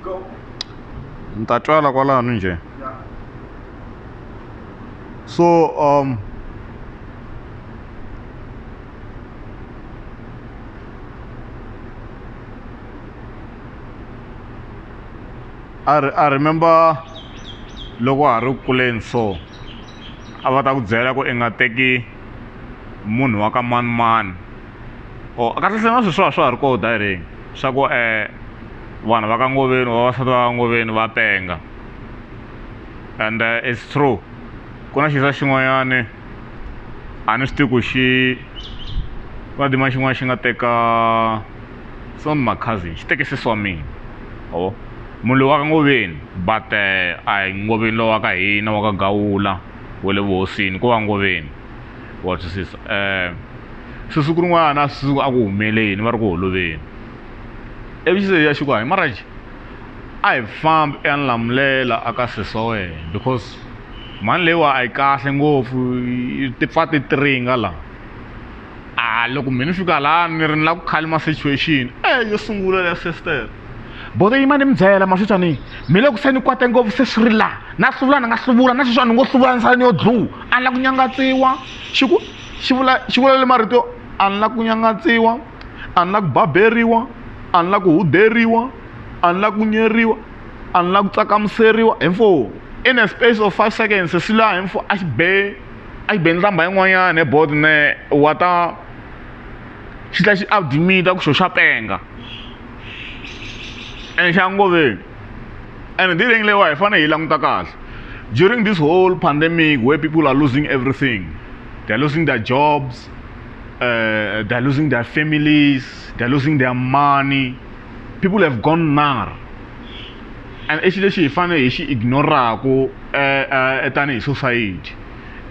Go. ni ta twala kwalano njhe Yeah. so um I, re- I remember loko wa ha ri ku kuleni so a va ta ku byela ku i nga teki munhu wa ka manimani or kahlekahle na sweswiwa a swa ha ri kona direct swa ku vanhu va ka Ngoveni or vavasati va ka Ngoveni va penga and it's true ku na xisa xin'wanyani a ni swi tivi ku xi ku na timali xin'wana xi nga teka it's not my cousin xi teke sesi wa mina ma vo munhu loyi wa ka Ngoveni but a hi Ngoveni lowa ka hina wa ka Gawula wa le vuhosini ko va Ngoveni. wa twisisa sweswi ku rin'wana a swi a ku humeleni va ri ku holoveni ivi xi ya xi ku hayi maraji a hi fambi i ya ni lamulela a ka sesi wa wena because mhani leyiwa a yi kahle ngopfu ti pfa ti tiringa la a loko me ni fika la ni ri ni la ku khalima situation yo sungula ya sesitera bodo yima ni mi byela maswitshwa ni mi le ku se ni kwate ngopfu se swi ri laha na hluvula ni nga hluvula na sweswi a ni ngo hluvula ni sala ni yo dluu a ni la ku nyangatsiwa xi ku xi vula xi vula le marito yo a ni la ku nyangatsiwa a ni la ku baberiwa a ni la ku huderiwa a ni la ku nyeriwa a ni la ku tsakamuseriwa hi mfo in a space of five seconds swi laha hi mfo a xi be a xi be nhlamba yin'wanyana he bodo ne wa ta xi tlhela xi admita ku xo xa penga enxangoveni and hi tirheni leyiwa hi fanele hi languta kahle during this whole pandemic where people are losing everything they're losing their jobs uh, they're losing their families they're losing their money people have gone nar and i xi lexi hi fanele hi xi ignoraku eh, eh, tanihi society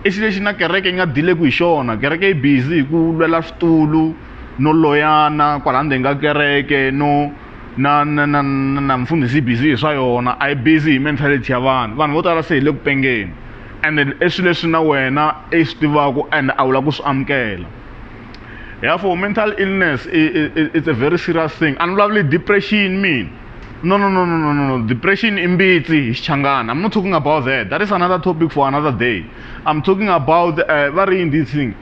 i xi lexi na kereke yi nga dileku hi xona kereke yi busy hi ku lwela switulu no loyana kwala ndzeni ka kereke no na na na na mfundhisi busy hi swa yona a yi busy hi mentality ya vanhu vanhu vo tala se hi le ku pengeni and i swilo leswi na wena i swi tivaka and a wu lava ku swi amukela therefore mental illness it's a very serious thing a ni vulavuli depression mina no no no no no no depression i mbitsi hi xichangana i'm not talking about that that is another topic for another day i'm talking about uh, va ri yini this thing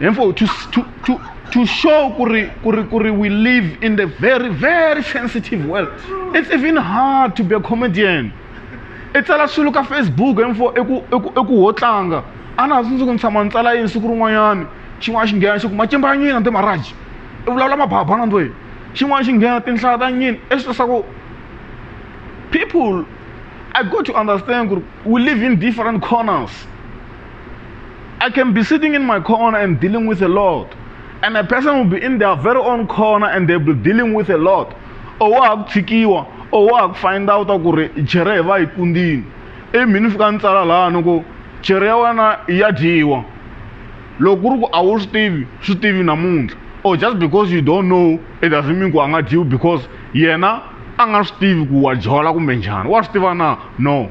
hinfo to, to, to, to show kuri, kuri, kuri we live in the very very sensitive world it's even hard to be a comedian i tsala swilo ka facebook hinfo eku ho tlanga a na ha tsundzuki ni tshama ni tsala yini siku rin'wanyani xin'wana xi nghena xi ku macimba ya nyina timaraji i vulavula mababa na ndwini xin'wana xi nghena tinhlaya ta nyini i swi leswaku people i got to understand ku ri we live in different corners I can be sitting in my corner and dealing with a lot. And a person will be in their very own corner and they'll be dealing with a lot. Or wa ha ku tshikiwa, or wa ha ku find out ku ri jere hi va yi kundini. I mini fika ni tsala laha ni ku jere ya wena ya dyiwa. Loko ku ri ku a wu swi tivi, swi tivi namuntlha. Or just because you don't know, it doesn't mean ku a nga dyiwi because yena a nga swi tivi ku wa jola kumbe njhani. Wa swi tiva na? No.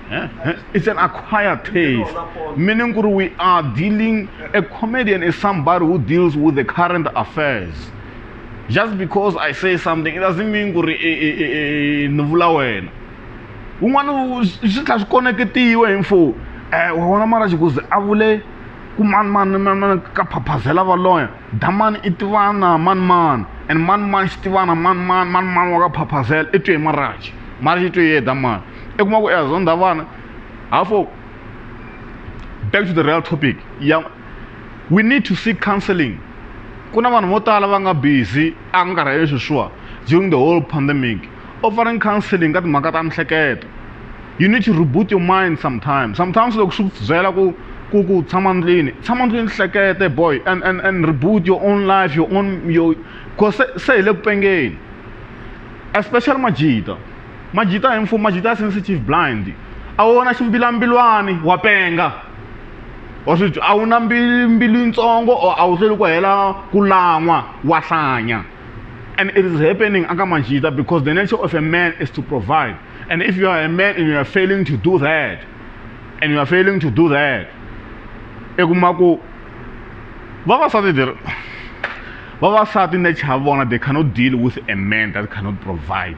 It's an acquired taste, meaning we are dealing, a comedian is somebody who deals with the current affairs. Just because I say something, it doesn't mean kuri ni vula wena. Un'wana swi tlha swi koneketiwe hi mfo. Eh wa vona mara xikuzi a vule ku mani mani mani ka phaphazela valoya. Damani i tivana mani mani and mani mani xi tivana mani mani mani mani wa ka phaphazela i twe hi maraji. Maraji i twe hi yena damani. i kuma ku i zonda vana hafo back to the real topic ya we need to seek counseling ku na vanhu vo tala va nga busy a nga karhi sweswiwa during the whole pandemic offering counseling ka timhaka ta mihleketo you need to reboot your mind sometimes sometimes loko swi byela ku ku ku tshama ndlwini tshama ndlwini hlekete boy and and and reboot your own life your own your cause se hi le ku pengeni especially majita Majita hi mfumo majita ya sensitive blind a wu wona ximbilambilwani wa penga wa swi a wu na mbilu yitsongo or a wu hlweli ku hela ku lan'wa wa hlanya and it is happening aka majita because the nature of a man is to provide and if you are a man and you are failing to do that and you are failing to do that i kuma ku vavasati vavasati nature ya vona they cannot deal with a man that cannot provide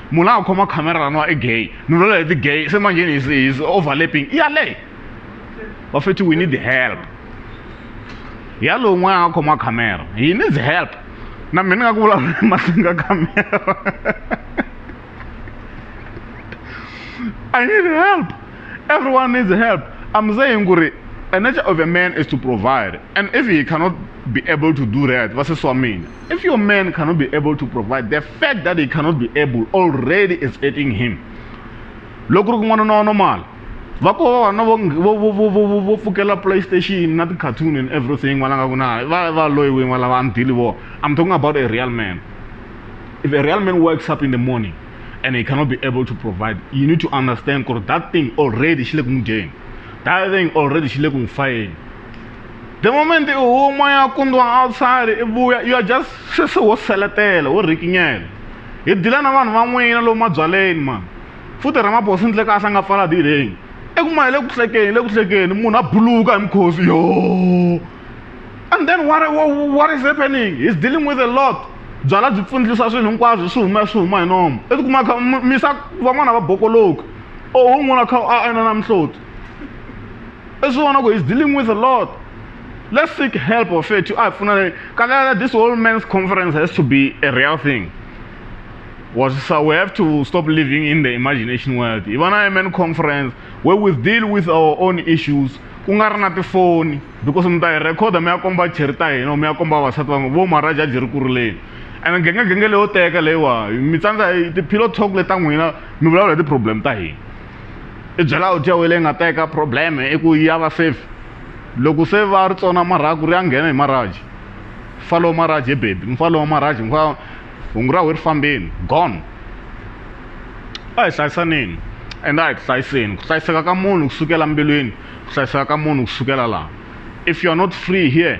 munhu la nga khoma khamera laniwa i gay ni vula leti gay se manjheni his, his overlapping i yaleyo va feti we need help ya lowu n'wana a nga khoma khamera he needs help na mina ni nga ku vulavula emahlweni ka khamera i need help everyone needs help i'm saying ku ri a nature of a man is to provide and if he cannot be able to do that vasesi wa mina If your man cannot be able to provide, the fact that he cannot be able already is hurting him. Loko ri n'wana na normal. Va ko vana vo vo vo vo vo fukela PlayStation na cartoon and everything n'wana nga ku na va va loyi wini n'wana va ndili vo. I'm talking about a real man. If a real man wakes up in the morning and he cannot be able to provide, you need to understand that thing already xi le ku n'wi dyeni. That thing already xi le ku n'wi fayeni. the moment u huma ya kundiwa outside i vuya you are just sweswi wo seletela wo rikinyela hi dila na vanhu van'wina lomu mabyaleni mani futhi ramabosi ndle kahle a nga pfala dileni eku ma hi le ku hlekeni le ku hlekeni munhu a buluka hi mukhosi yo and then what, what, what is happening he's dealing with a lot byala byi pfundlisa swilo hinkwaswo swi huma swi huma hi nomo i tikuma kha misa van'wana va bokoloka o un'wana kha a ena na mihloti i swi vona ku he's dealing with a lot let's seek help of it a hi pfunane kalela this whole man's conference has to be a real thing was so we have to stop living in the imagination world hi va na man conference where we deal with our own issues ku nga ri na tifoni because mi ta hi rhekhoda mi ya komba cheri ta hina or mi ya komba vasati van'we vo maharaja ji ri ku rileni and gengegenge leyo teka leyiwa mi tsandza hi ti-pillow talk leti ta n'wina mi vulavula hi ti-problem ta hina i byela audio ya wena leyi nga ta eka problem i ku ya va safe loko se va ri tsona marhaku ri ya nghena hi maraji mfalo wa maraji he bebi mfalo wa maraji mfa hungu ra we ri fambeni gone a hi hlayisaneni ende a hi ku hlayiseni ku hlayiseka ka munhu kusukela mbilwini ku hlayiseka ka munhu kusukela laha if you are not free here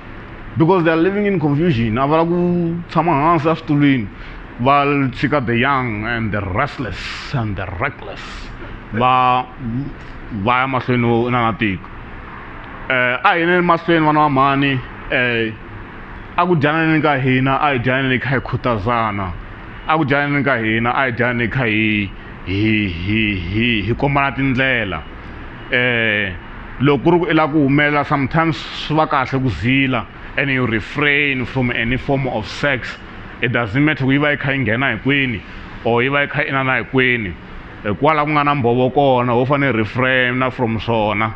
because they are living in confusion a va la ku tshama hansi eswitulwini va tshika the young and the restless and the reckless va va ya mahlweni wo na na tiko um a hi neni mahlweni vana va mhani um a ku dyaneni ka hina a hi dyaneni kha hi khutazana a ku dyaneni ka hina a hi dyaneni kha hi hi hi hi hi kombana tindlela loko ku ri ku i lava ku humelela sometimes swi va kahle ku zila and you refrain from any form of sex it doesn't matter ku yi va yi kha yi nghena hi kwini or yi va yi kha yi inana hi kwini hikwalaho ku nga na mbhovo kona ho fanele refrain-a from swona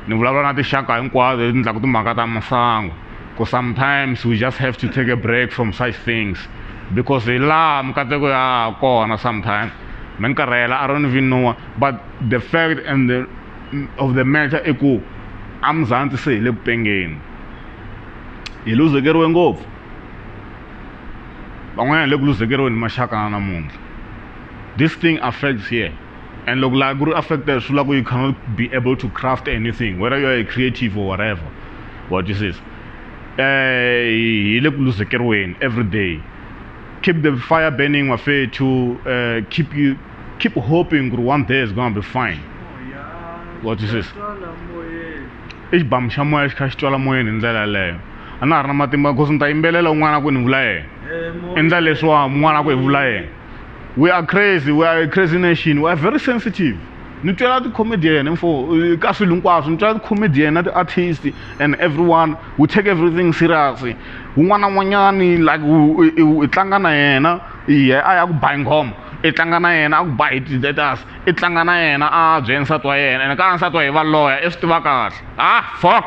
ni vulavula na tinxaka hinkwato leti endlaka timhaka ta masangu ku sometimes we just have to take a break from such things because hi laha mikateko ya ha kona sometimes mi ni karhela a ro ni vinuwa but the fact and the of the matter i ku a mzantsi se hi le ku pengeni hi luzekeriwe ngopfu van'wanyana hi le ku luzekeriweni hi maxaka na namuntlha this thing affects here and loko laha ku ri affected swi vula ku you cannot be able to craft anything whether you are a creative or whatever what you says eh hi le ku luzekeriweni every day keep the fire burning wafethu uh, keep you keep hoping kuti one day is gonna be fine wa twisisa i xibamu xa moya xi kha xi twala moyeni hi ndlela yeleyo a na ha ri na matimba because ni ta yimbelela un'wana ku ni vula yena endla leswiwa un'wana ku hi vula yena we are crazy we are a crazy nation we are very sensitive ni twela ti-comedian info ka swilo hinkwaswo ni twela ti-comedian na ti-artist and everyone we take everything serious un'wana na un'wanyani like hi tlanga na yena hi a ya ku bayi nghoma i tlanga na yena a ku ba hi tistatus i tlanga na yena a byela nsati wa yena ene ka nsati wa yena i va loya i swi tiva kahle ha fok.